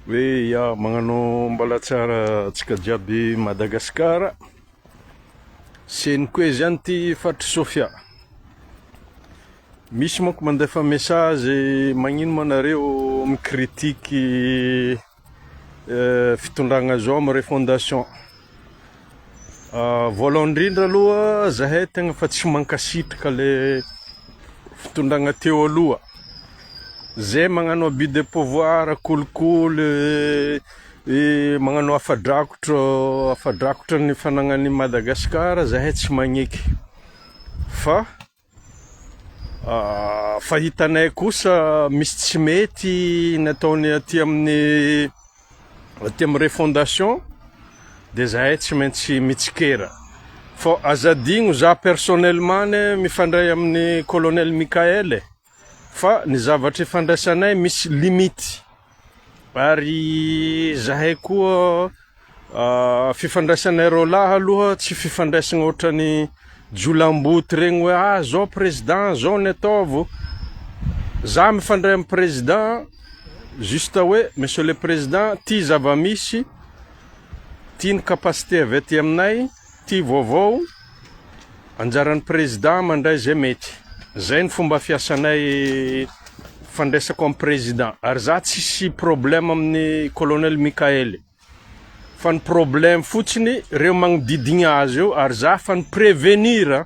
Hoe ya magnano mbalatsiara atsika jiaby Madagascar seniko e zany ty faritry Sofia misy manko mandefa message magnino ma nareo mi critique fitondragna zao am refondation Ah, voalohany indrindra aloha zahay tegna fa tsy mankasitraka le fitondragna teo aloha. Zay magnano abus de pouvoir, kolikoly, eh, magnano afa-drakotro, afa-drakotro ny fanagnan'i Madagasikara zahay tsy magneky fa. Fa hitanay kosa misy tsy mety nataony aty amin'ny aty amin'ny refondation dia zahay tsy maintsy mitsikera. Fa aza adino za personnellement anie mifandray amin'ny colonel Mickaël e! Fa ny zavatra ifandraisanay misy limite. Ary zahay koa ah, fifandraisanay roalahy aloha tsy fifandraisagna ohatrany jiolamboto regny hoe ah zao président zao ny ataovo, za mifandray am président juste hoe monsieur le président ty zavamisy, ty ny capacité avy aty aminay, Tia vaovao, anjaran'ny président mandray zay mety, zay ny fomba fiasanay fandraisako amin'ny président, ary za tsisy problème amin'ny colonel Mickael fa ny problème fotsiny reo magnodidigna azy eo ary za fa ni prévenir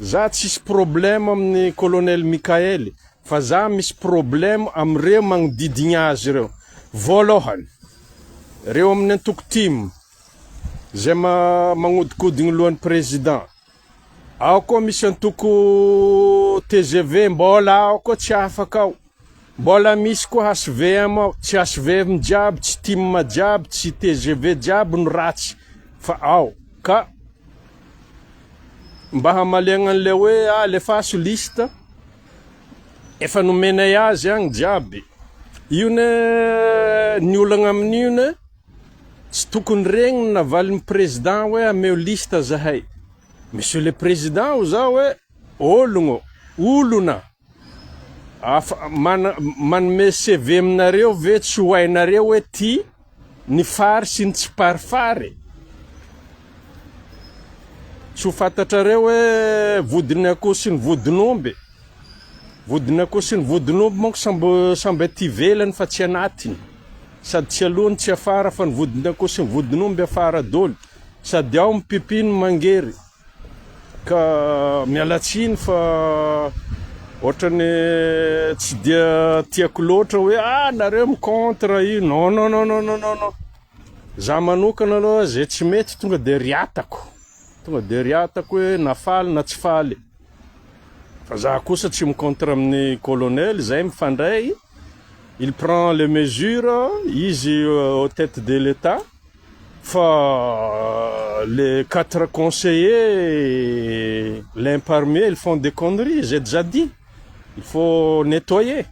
Za tsisy problème amin'ny colonel Mickael fa za misy problème amin'ireo magnodidigna azy ireo. Voalohany, ireo amin'ny antoko tim izay magnodikodigny lohan'ny président. Ao koa misy antoko tgv mbola ao koa tsy afaka ao. Mbola misy koa HVM ao, tsy HVM jiaby, tsy tim jiaby, tsy tgv jiaby no ratsy fa ao ka mba hamaliagna an'ilay hoe alefaso liste efa nomenay azy agny jiaby, io ne ny olagna amin'io ne tsy tokony regniny na valin'ny président hoe ameo liste zahay, monsieur le président hoza hoe ologno, olona. Afa manome CV aminareo ve tsy ho hainareo hoe tia ny fary sy ny tsiparifary e? Tsy ho fantatrareo hoe vodin'ny akoho sy ny vodin'omby e? Vodin'ny akoho sy ny vodin'omby manko sambo samby aty ivelany fa tsy anatiny. Sady tsy aloha no tsy afara fa ny vodin'ny akoho sy ny vodin'omby afara doly. Sady ao ny pipi no mangery. Ka miala tsiny fa otrany tsy dia tiako loatra hoe ah nareo mi contre io non non non non non non non za manokana aloha zay tsy mety tonga de riatako tonga de riatako hoe na faly na tsy faly fa za kosa tsy mi contre amin'ny colonel zay mifandray il prend les mesures izy au tete de l'etat Fa les quatre conseillers l'un parmi eux ils font des conneries, j'ai déjà dit, il faut nettoyer,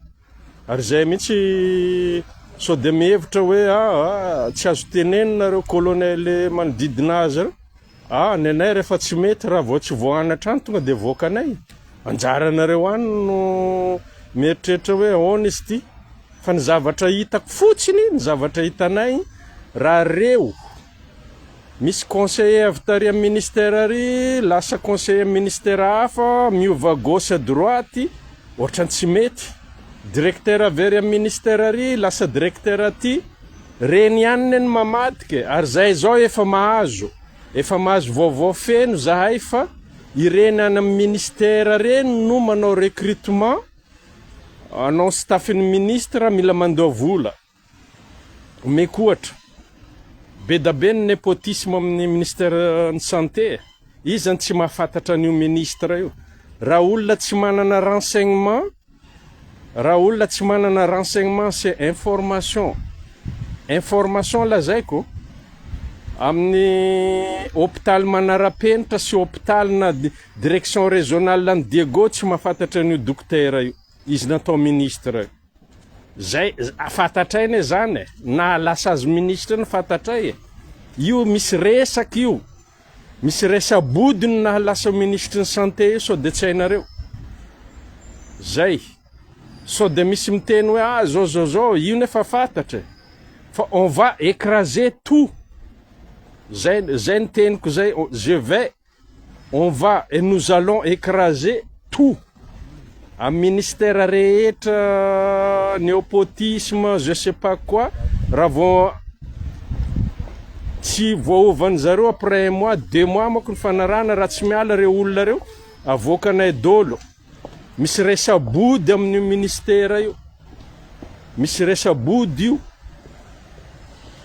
ary zay mihitsy sao dia mihevitra hoe aa tsy azo tenenina reo colonel manodidina azy reo. Ah, ny anay rehefa tsy mety, raha vao tsy voahana hatrany tonga dia avoakanay. Anjaranareo ihany no mieritreritra hoe ahoana izy ity. Fa ny zavatra hitako fotsiny, ny zavatra hitanay, raha reo misy conseiller avy tary amin'ny ministère ary lasa conseiller amin'ny ministère hafa, miova gauche à droite, ohatran'ny tsy mety. Directeur very amin'ny ministère ary lasa directeur aty. Reny ihany ne no mamadika e, ary zay zao efa mahazo, efa mahazo vaovao feno zahay fa ireny any amin'ny ministère reny no manao recrutement anao staffn'ny ministre mila mandoa vola, omeko ohatra, bedabe ny nepotisme amin'ny ministère ny santé e, iza no tsy mahafantatra an'io ministre io, raha olona tsy manana renseignement, Raha olona tsy manana renseignement sy information, information lazaiko, amin'ny hopitaly manarapenitra sy hopitaly na direction régionale an'i Diego tsy mahafantatra an'io dokotera io, izy natao ministre io. Zay, fantatray anie zany e, naha lasa azy ministre iny fantatray e, io misy resaka io. Misy resa-body no nahalasa minisitry ny santé io sao dia tsy hainareo. Zay. Sao dia misy miteny hoe ah zao zao zao, io nefa fatatra e. Fa on va ecraser tout. Zay zay ny teniko zay, je vais, on va et nous allons ecraser tout. Amin'ny ministère rehetra nepotisme je sais pas quoi raha vao tsy voaovan'ny zareo après un mois deux mois manko ny fanarahana raha tsy miala ireo olona ireo avoakanay dolo misy resa-body amin'io ministère io misy resa-body io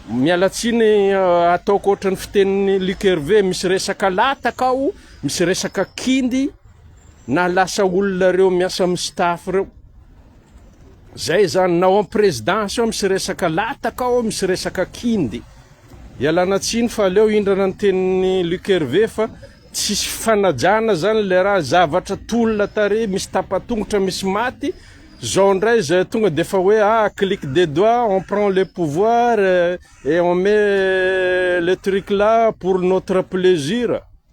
miala tsiny euh, ataoko ohatran'ny fitenin'ny Luc Hervé misy resaka lataka ao misy resaka kindy Na lasa olona reo miasa am staff reo. Zay zany na ao am presidence ao misy resaka lataka ao misy resaka kindy. Ialana tsiny fa aleo hindrana ny tenin'i Luc Hervé fa tsisy fifanajana zany le raha zavatra tolona tary misy tapatongotra misy maty zao ndray zay tonga de fa hoe ah clique de doigt on prend le pouvoir et on met le truc là pour notre plaisir.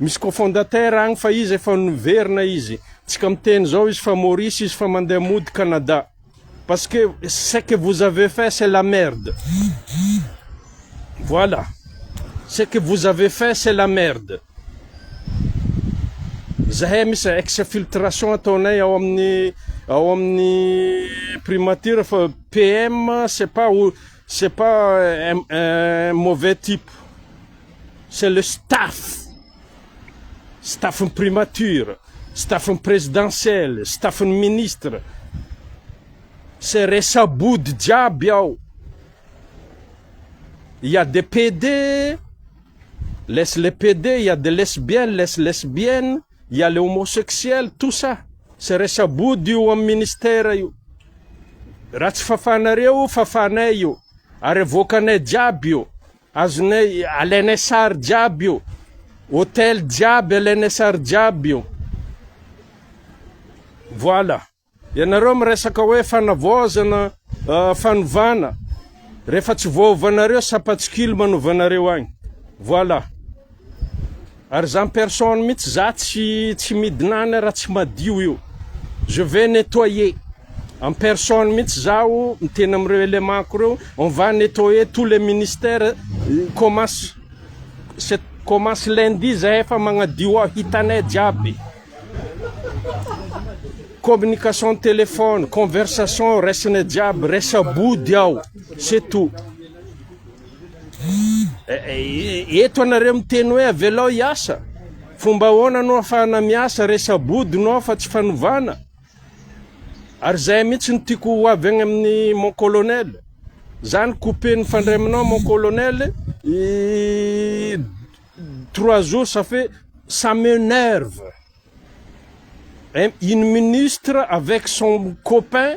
Misy cofondateur agny fa izy efa niverina izy, tsy ka miteny zao izy fa Maurice izy fa mandeha mody Canada. Parce que ce que vous avez fait c'est la merde. Voilà. Ce que vous avez fait c'est la merde. Zahay misy exfiltration ataonay ao amin'ny ao amin'ny primature fa PM c'est pas c'est pas un mauvais type. c'est le staff, staff-n'ny primature, staff-n'ny presidentielle, staff-n'ny ministre, c'est resa-body jiaby ao, il ya des PD, laisse les PD, il ya des lesbiennes, laisse lesbiennes, il ya les homosexuels, tout ça, c'est resa-body io amin'ny ministère io, raha tsy fafanareo io, fafanay io, ary avoakanay jiaby io. Azonay alainay sary jiaby io. Hotel jiaby alainay sary jiaby io. Voilà. Ianareo miresaka hoe fanavaozana, fanovana, rehefa tsy voaovanareo sapatsikilo manovanareo agny. Voilà. Ary za personne mitsy za tsy tsy midina any ra tsy madio io. Je vais nettoyer. En personne mitsy zaho miteny amreo element ko reo on va nettoyer tous les ministères commence c'est commence lundi zahay efa magnadio ao hitanay jiaby. Communication téléphone, conversation raisinay jiaby, resa-body ao. C'est tout. Eto anareo miteny hoe avelao hiasa, fomba ahoana no afahana miasa re sabody no afa tsy fanovana? Ary zay mihitsy no tiako ho avy agny amin'ny mon colonel. Zany couper nifandray aminao mon colonel, trois jours ça fait ça m'enerve. Une ministre avec son copain.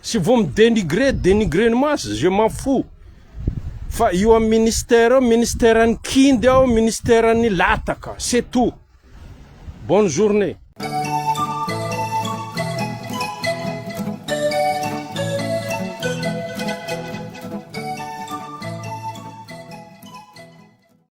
Tsy vao mi denigrer denigrer ny maso je m'en fous fa io am ministère eo ministère ny kindy aho ministère ny lataka c'est tout bonne journée.